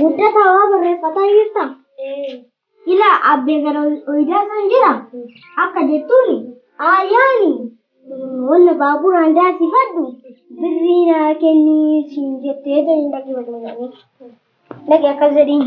Guddataa waa barreeffataa jirta? Ila abbee gara oyidaa san jira? Akka jettuun ayyaani wanna baaburaan daasifadhu birrii naa kenni siin jettee jedhin dhaqi walii dhaqi akkas jedhiin.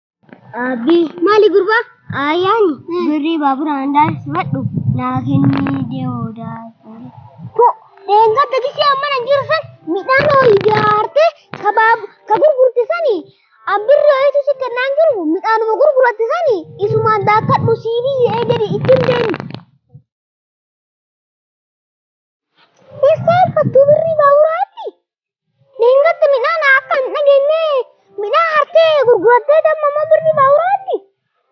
Abbii. Maali gurbaa? Ayyaan birrii baabura handaa sifadhu naa kennii deemuudhaa. Ko dheengadda gisee amma nan jiru san midhaan horii jaartee kabaab ka gurgurte sani abbirri ho'itu si kennaan jiru midhaanuma gurguratte sani isumaan daakkadhu sii biyyee gadi ittiin deemi. Eessaa hirkattuu birrii baaburaa alli? Dheengadda midhaan akka hin dhageenye midhaan hartee gurgurattee damma immoo birrii baaburaa alli?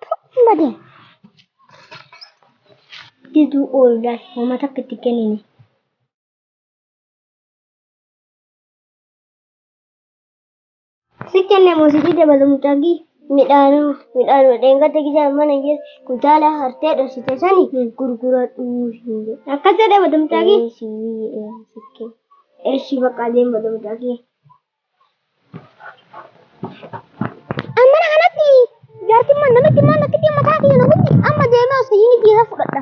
Tokko badee. Diduu ooludhaan uummata akka itti kennine. Si kenne muuziqii dabala mucaaqii midhaanuu midhaanuma dheengadda gijaan mana geesse kuntaala hartee dhoksite sani gurguradhuu hin jedhe. Akkas jedhe bada mucaaqii. Eshi bakka deem bada mucaaqii. Ammana kanatti jaartimmaan namitti immoo natti dhimma taate yoo namitti amma deemee osoo inni dhiira fudhadha.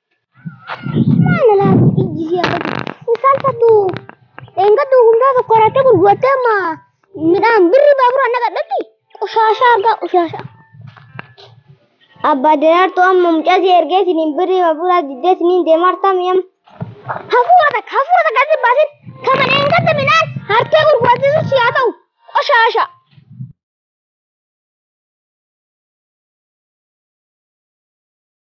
Abbaa daraartuu amma mucaa si ergee siniin birrii baburaa diddee siniin deemaa hartaa mi'am. Hafuura takka hafuura takka si baasin kama dheengadda midhaan hartee gurguratisu si haa ta'u qoshaasha.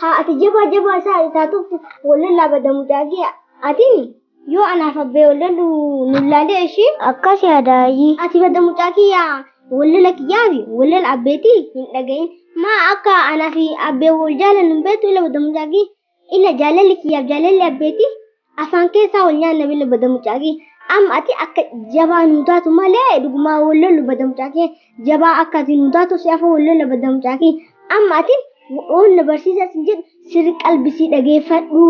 Haa ati jabaa jabaa isaa ati taatuuf wal lollaa bada mucaa kee atini yoo anaaf abbee wal lollu nu laalee ishii. Akkas yaada ayyii. Ati bada mucaa kiyyaa wal lola kiyyaa fi wal lola abbeeti hin dhagahin maa akka anaa fi abbee wal jaalannu hin beektu ila bada mucaa kiyya ila jaalalli kiyyaaf jaalalli abbeeti Afaan keessaa wal nyaanna bille bada mucaaqii. Amma ati akka jabaa nuu taatu malee dhugumaa wal lollu bada mucaaqee. Jabaa akka ati nuu taatu si afoo wal lolla bada mucaaqii. Amma ati waan na barsiisaa sin jedhu sirri qalbisii dhageeffadhu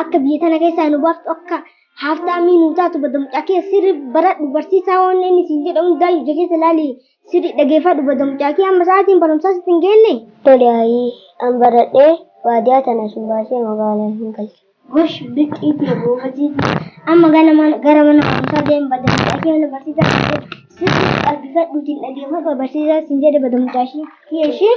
akka biyya tana keessaa nu baaftu akka haaftaamii nuu taatu bada mucaaqee sirri baradhu barsiisaa waan inni sin jedhu hundaa ija keessa laali sirri dhageeffadhu bada mucaaqee amma sa'aatiin barumsaa sitti hin geenne. Tole ayii an baradhee baadiyaa tana sin baasee magaalaa hin galcha. Gosh bixxii tee goobazii tee amma ganama gara mana barumsaa deem bada mucaa kee mana barsiisaa kan jedhu sirri qalbifadhuutiin dhageeffadhu barsiisaa sin jedhe bada mucaa ishii kee ishii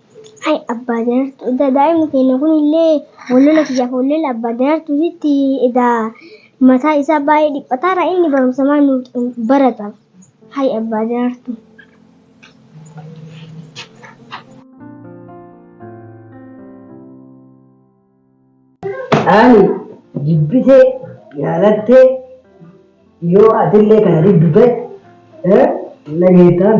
Ay abbaa daraartu edaa daa'imni keenya kun illee wallola kiyyaaf wallee abbaa daraartuutitti edaa mataa isaa baay'ee dhiphataara inni barumsa maal nu barata. Hay abbaa daraartu. Ani jibbitee yaalattee yoo atillee kana diddu ta'e eh, na geettaan.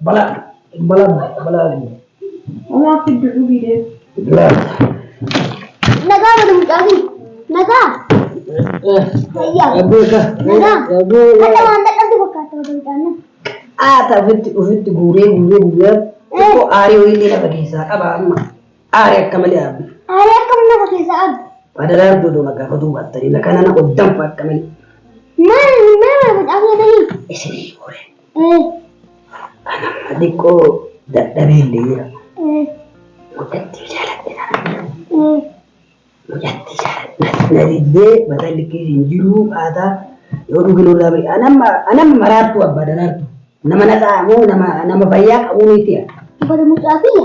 Bala bala bala Omaa fiddu dhugii deemu. Nagaa mana mucaafi. Nagaa. Fayyaa. Nagaa. Akka waan dadhabde fakkaata wata mucaan. Aata ofitti ofitti guuree guuree guuree xiqqoo aarii wayillee lafa keessaa qaba amma aarii akka malee aabbi. Aarii akka mana lafa keessaa aabbi. Badalaan doodoo na gaafa duubattanii na kana na oddanfa akka malee. Maal maal mucaafi atanii? Isinii horee. Anamma xiqqoo dadhabee illee jira. Mucattii jaaladhe kana. Mucattii jaaladhe. Na diddee mataa likkee hin jiru haataa yoo dhuginu irraa bari. Anamma anamma maraattuu abbaa daraartu. Nama naxaa moo nama nama fayyaa qabuu miti yaa. Bara mucaa kiyya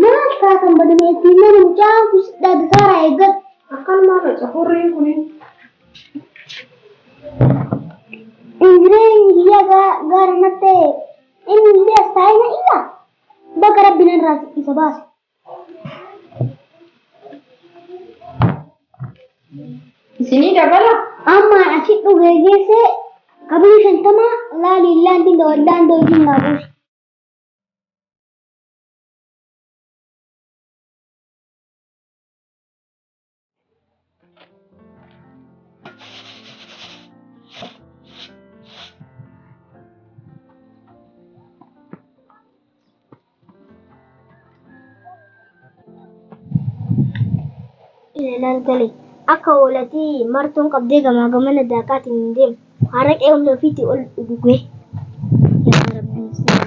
Maaf taatan badame ittiin mana mucaan kun siddaa dasaaraa eeggadhu. Akkanumaa faca hurriin kunin. Ingireenyi biyya gaara nattee inni illee astaayina iyyaa bakka rabbi narraa isa baase. Isinii dabala? Amma asi dhuge geesse qabrii shantama laali laandi laandoo isin naa buusi. ilaalaan gale akka hoolatii martuun qabdee gamaa gamana daakaatiin hin deemu haraqee humna ofiitii ol dhugee yaa rabbii isaa.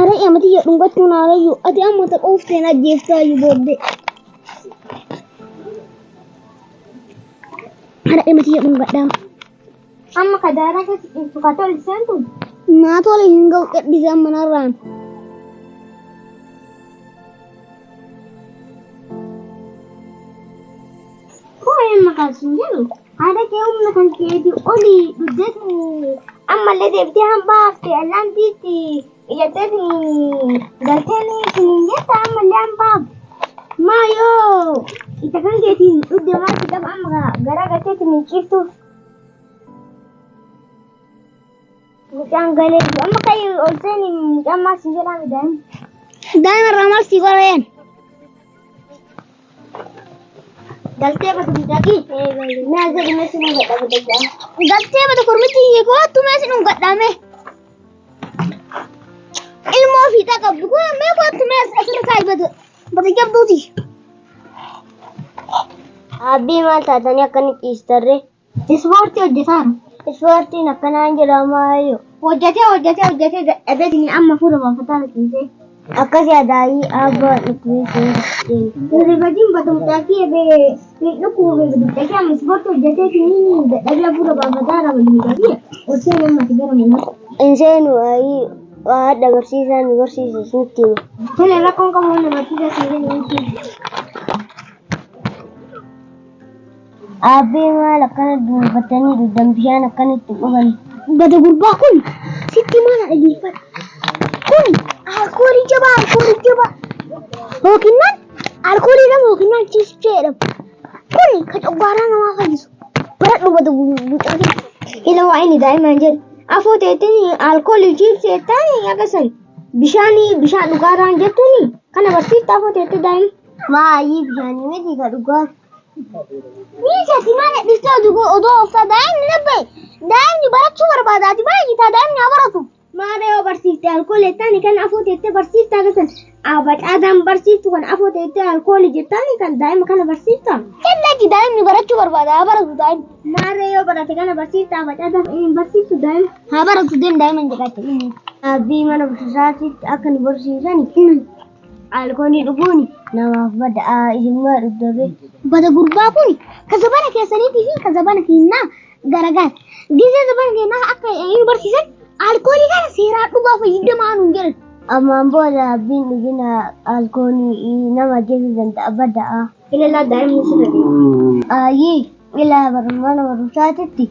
Are amati ya dhungachuun haarayyu ati amma tapha ufteen ajjeeftaayu booddee. Are amati ya dhungadhaa. Amma ka daaraa keessa ciistu ka tole seentu. Naa tole hin ga'u gadhiise amma narraan. Koo amma kaasuun jedhu. Haadha kee humna kan keeti oli dhuddeetiin ammallee deebitee hambaa hafte allaantiitti iyyateetiin galteen siniin jetta ammallee hambaa hafte. Maa yoo isa kan keetiin dhudde maatti qaba amma garaa galteetiin ciiftuuf. Mucaan galee jiru. Amma ka'e ol seeni mucaan maal siin jedhaa midhaan. Daa'ima irraa maal sii qoreen? Galtee bata midhagi. Naa jedhi mee siin gadha midhagaa. Galtee bata kormitti hiikoo attumee sin hungadhaame. Ilmoo fiixaa qabdu kun mee koo attumee asirra kaa'i bata bata jabduuti. Abbii maal taatanii akkanitti dhiistarree? Ispoortii hojjetaan. Ispoortiin akkanaa hin jiru amma hayyoo. Hojjetee hojjetee hojjetee dadhabee sini amma fuula baafataa rifeensee. Akkas yaadaayii abbaa dhufeessee. Rifatiin batumtaakii ebee hin dhukkube badumtaakii amma ispoortii hojjetee sini dadhabee fuula baafataa raba badumtaakii osoo hin ammati gara manaa. Hin seenu ayii waa dabarsiisaa nu barsiisa isinitti hima. Tole rakkoon qabu waan dabarsiisaa seenee nutti. Aabbee maal akkana duunfattanii dhugdan bishaan akkana itti quban. Bada gurbaa kun sitti mana dhageeffadha. Kun alkoolii jabaa alkoolii jabaa. Yookinnaan alkoolii jedhamu yookinnaan ciisicha jedhamu. Kun ka coggaaraa namaa fayyisu. Baradhu bada gurbaa ila waa inni daa'imaan jedhu. Afoo teettiin alkoolii ciibsi jettaani akkasani. Bishaanii bishaan dhugaaraan jettuuni kana barsiifta afoo teettee daa'ima. Maayii bishaanii miti ka dhugaa. Miisa si maal dhiftee oduu koo oduu ooftaa daa'imni labbee daa'imni barachuu barbaada ati baay'ataa daa'imni haa baratu. Maada yoo barsiifte alkoolii jettaani kan afoo teettee barsiifte agartan abacaataan barsiiftu kan afoo teettee alkoolii jettaani kan daa'ima kana barsiifta. Kallatti daa'imni barachuu barbaada haa baratu daa'imni. Maada yoo barate kana barsiifta abacaataan hin barsiiftu daa'ima. Haa baratu deem daa'ima hin jedhatte. Abbii mana barsiisaatti akka nu barsiisan Alkoolii dhuguun namaaf bada ijummaa dhugdabee. Bada gurbaa kun ka zabana keessaniitii fi ka zabana keenyaa garagaara. Gisee zabana keenyaa akka nu barsiisan alkoolii kana seeraa dhugaa fayyadamaa nuun jedhan. Ammaan booda abbiin dhugina alkoolii nama ajjeesuu danda'a bada'a. Ilaalaa daa'imni sirra deema. Ayyii ilaa barummaa nama rusaatitti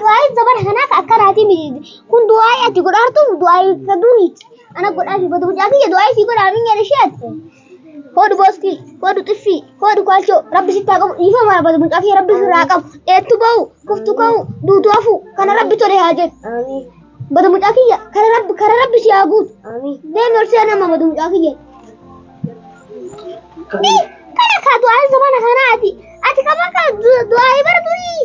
Du'aayi zabana kanaa ka akkanaatii miti. Kun du'aayi ati godhaartuuf du'aayi ka duriiti. Ana godhaafi bada mucaa kiyya du'aayi sii godhaa minya ishee ati. Hoodhu booskii, hoodhu xiffii, hoodhu kwaalchoo rabbi sitti haa qabu dhiifama haa bada mucaa kiyya rabbi sirraa haa qabu. Dheettu ba'u, kuftu ka'u, duutu hafu kana rabbi tole haa jedhu. Bada mucaa kiyya kana rabbi kana rabbi si haa guutu. Deemi ol seenaa amma bada mucaa kiyya. Kana kaa du'aayi zabana kanaa ati. Ati kama kaa du'aayi bara durii.